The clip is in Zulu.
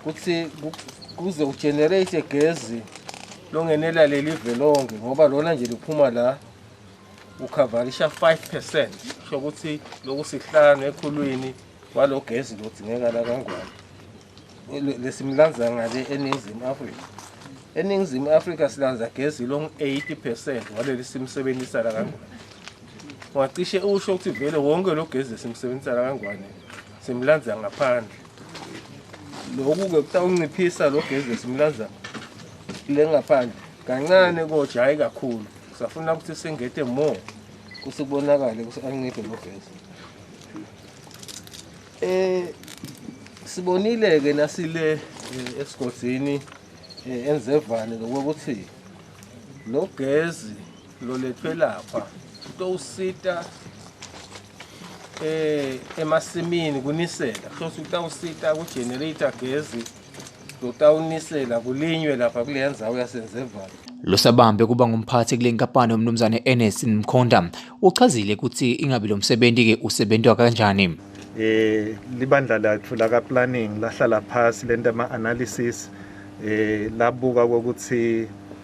ukuthi kuze ugenerate gezi longenela leli ve lonke ngoba lona nje liphuma la ukhavarisha 5 percent kusho ukuthi loku sihlanu ekhulwini kwalo gezi lodzingekala kangwane lesimlanza ngale eningizimu afrika eningizimu afrika silanza gezi long 80 percent waleli simsebenzisa la kangwane ungacishe usho ukuthi vele wonke lo gezi simsebenzisa la kangwane simlanza ngaphandle Lokhu-ke kutawunciphisa lo gezi esimlaza le ngaphandle kancane kodwa hhayi kakhulu safuna ukuthi singete more kuthi kubonakale ukuthi anciphe lo gezi um sibonile-ke nasile eh, esigodini um eh, enzevane lokokuthi lo gezi lolethwe lapha utowusita eh emasimini kunisela hlose utawusita ku generator gezi lotawunisela kulinywe lapha kule ndzawo yasenzevalo losabambe kuba ngumphathi kule nkampani umnumzane Ernest Mkhonda uchazile ukuthi ingabe lo msebenzi ke usebenzwa kanjani eh libandla lathu la ka planning lahlala phansi lenta ama analysis eh labuka ukuthi